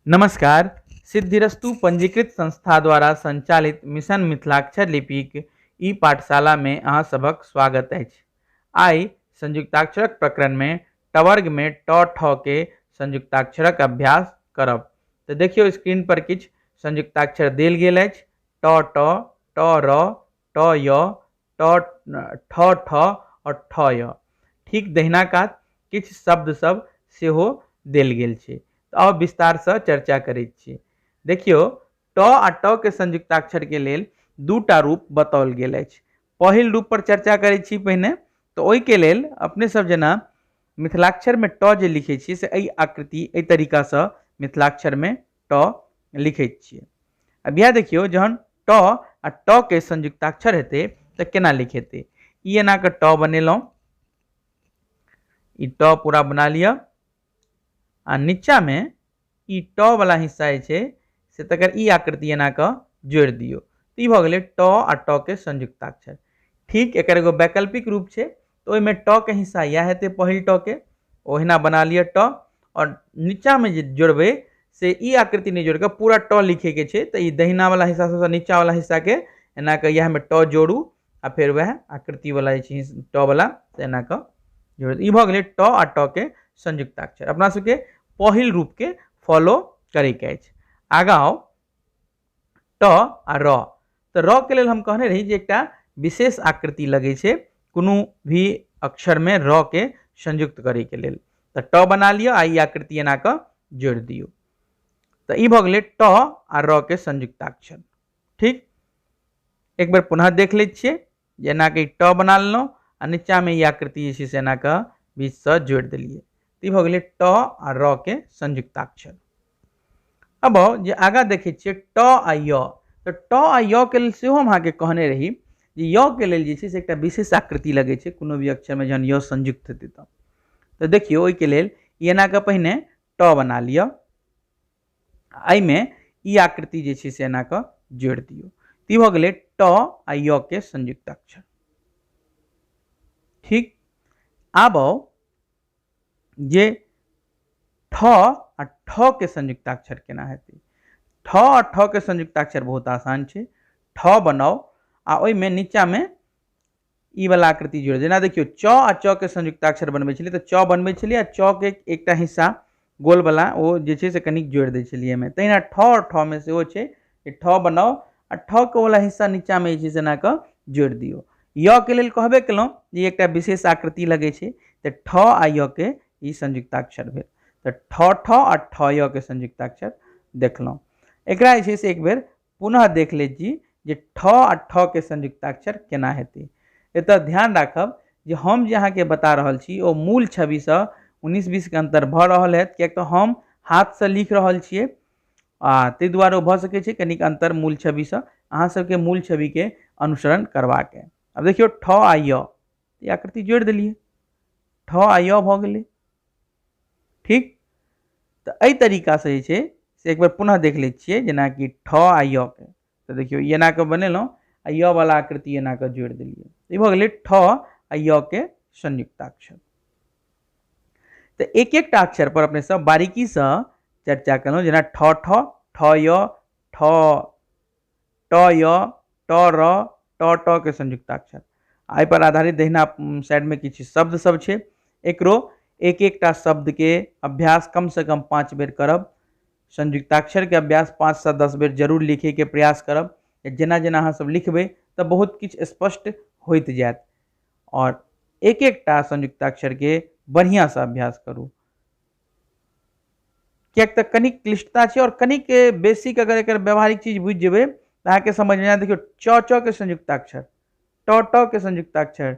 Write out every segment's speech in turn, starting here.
नमस्कार सिद्धिरस्तु पंजीकृत संस्था द्वारा संचालित मिशन मिथिलाक्षर लिपिक ई पाठशाला में अहाँ सभक स्वागत अछि आइ संयुक्ताक्षरक प्रकरण में टवर्ग में ट ठ के संयुक्ताक्षरक अभ्यास करब तऽ देखियौ स्क्रीन पर किछु संयुक्ताक्षर देल गेल अछि ट ट ट र ट य ट ठ ठ आओर ठ य ठीक दहिना कात किछु शब्द सब सेहो देल गेल छै तऽ आउ विस्तारसँ चर्चा करैत छी देखियौ ट आ ट के संयुक्ताक्षर के लेल दूटा रूप बताओल गेल अछि पहिल रूप पर चर्चा करै छी पहिने तऽ ओहिके लेल अपने सब जेना मिथिलाक्षरमे ट जे लिखै छी से एहि आकृति एहि तरीकासँ मिथिलाक्षरमे ट लिखै छियै अब इएह देखियौ जहन ट आ ट के संयुक्ताक्षर हेतै तऽ केना लिखेतै ई एना कऽ ट बनेलहुँ ई ट पूरा बना लिअ आ नीचाँमे ई ट वाला हिस्सा जे छै से तकर ई आकृति एना कऽ जोड़ि दियौ तऽ ई भऽ गेलै ट आ ट के संयुक्ताक्षर ठीक एकर एगो वैकल्पिक रूप छै तऽ ओहिमे ट के हिस्सा इएह हेतै पहिल ट के ओहिना बना लिअ ट आओर नीचाँमे जे जोड़बै से ई आकृति नहि जोड़िकऽ पूरा ट लिखैके छै तऽ ई दहिनावला हिस्सा सबसँ नीचाँवला हिस्साके एना कऽ इएहमे ट जोड़ू आ फेर वएह आकृतिवला जे छै ट वला से एना कऽ जोड़ि दियौ। ई भऽ गेलै ट आ ट के संयुक्ताक्षर अपना सबके पहिल रूपके फॉलो करैके अछि आगाँ आउ ट आ र तऽ र के लेल हम कहने रही जे एकटा विशेष आकृति लगै छै कोनो भी अक्षरमे र के संयुक्त करैके लेल तऽ ट बना लिअ आ ई आकृति एना कऽ जोड़ि दियौ तऽ ई भऽ गेलै ट आ र के संयुक्ताक्षर ठीक एक बेर पुनः देख लै छियै जे एनाके ई ट बना लेलहुँ आ नीचाँमे ई आकृति जे छै से एनाके बीचसँ जोड़ि देलियै तऽ ई भऽ गेलै ट आ र के संयुक्ताक्षर अब आउ जे आगाँ देखै छियै ट आ य तऽ ट आ य के लेल सेहो हम अहाँके कहने रही जे य के लेल जे छै से एकटा विशेष आकृति लगै छै कोनो भी अक्षरमे जहन य संयुक्त हेतै तऽ तऽ देखियौ ओहिके लेल ई एनाके पहिने ट बना लिअ आ एहिमे ई आकृति जे छै से एना कऽ जोड़ि दियौ तऽ ई भऽ गेलै ट आ य के संयुक्त अक्षर ठीक आब आउ जे ठ आ ठ के संयुक्ताक्षर केना हेतै ठ आ ठ के संयुक्ताक्षर बहुत आसान छै ठ बनाउ आ ओहिमे नीचाँमे ई वाला आकृति जोड़े जेना देखियो च आ च के संयुक्ताक्षर बनबै छलियै तऽ च बनबै छलियै आ च के एकटा हिस्सा गोल वाला ओ जे छै से कनिक जोड़ि दै छलियै एहिमे तहिना ठ आओर ठ मे सेहो छै जे ठ बनाउ आ ठ के वाला हिस्सा नीचा मे जे छै से एना कऽ जोड़ि दियौ य के लेल कहबे केलहुँ जे ई एकटा विशेष आकृति लगै छै तऽ ठ आ य के ई संयुक्ताक्षर भेल तऽ ठ ठ आ ठ य के संयुक्ताक्षर देखलहुँ एकरा जे छै से एक बेर पुनः देख ले जी जे ठ आ ठ के संयुक्ताक्षर केना हेतै एतऽ ध्यान राखब जे हम जे अहाँके बता रहल छी ओ मूल छविसँ उन्नीस बीसके अन्तर भऽ रहल हैत किएक तऽ हम हाथसँ लिख रहल छियै आ ताहि दुआरे ओ भऽ सकै छै कनिक अन्तर मूल छविसँ अहाँ सबके मूल छविके अनुसरण करबाक अइ आब देखियौ ठ आ य ई आकृति जोड़ि देलियै ठ आ य भऽ गेलै ठीक तऽ एहि तरीकासँ जे छै से एक बेर पुनः देख लै छियै जेनाकि ठ आ य के तऽ देखियौ ई एना कऽ बनेलहुँ आ य वाला आकृति एना कऽ जोड़ि देलियै ई भऽ गेलै ठ आ य के संयुक्ताक्षर तऽ एक एकटा अक्षर पर अपने सब बारीकीसँ चर्चा केलहुँ जेना ठ ठ ठ य ठ ट य ट र ट ट के संयुक्ताक्षर एहि पर आधारित दहिना उम, साइड में किछु शब्द सब छै एकरो एक एकटा शब्द के अभ्यास कम से कम पाँच बेर करब संयुक्ताक्षर के अभ्यास पाँच से दस बेर जरूर लिखे के प्रयास करब जेना जेना अहाँ सब लिखबै तऽ बहुत किछु स्पष्ट होइत जायत और एक एकटा संयुक्ताक्षर के बढ़िया से अभ्यास करू किएक तऽ कनिक क्लिष्टता छै आओर कनिक बेसिक अगर एकर व्यावहारिक चीज बुझि जेबै तऽ अहाँके समझमे आयत देखियौ च च के संयुक्ताक्षर ट ट के संयुक्ताक्षर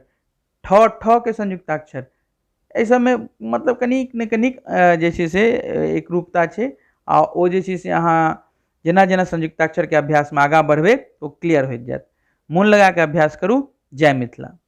ठ ठ के संयुक्ताक्षर एहि सभमे मतलब कनिक ने कनिक जे छै से एकरूपता छै आ ओ जे छै से अहाँ जेना जेना संयुक्ताक्षरके अभ्यासमे आगाँ बढ़बै ओ क्लियर होइत जायत मोन लगा कऽ अभ्यास करू जय मिथिला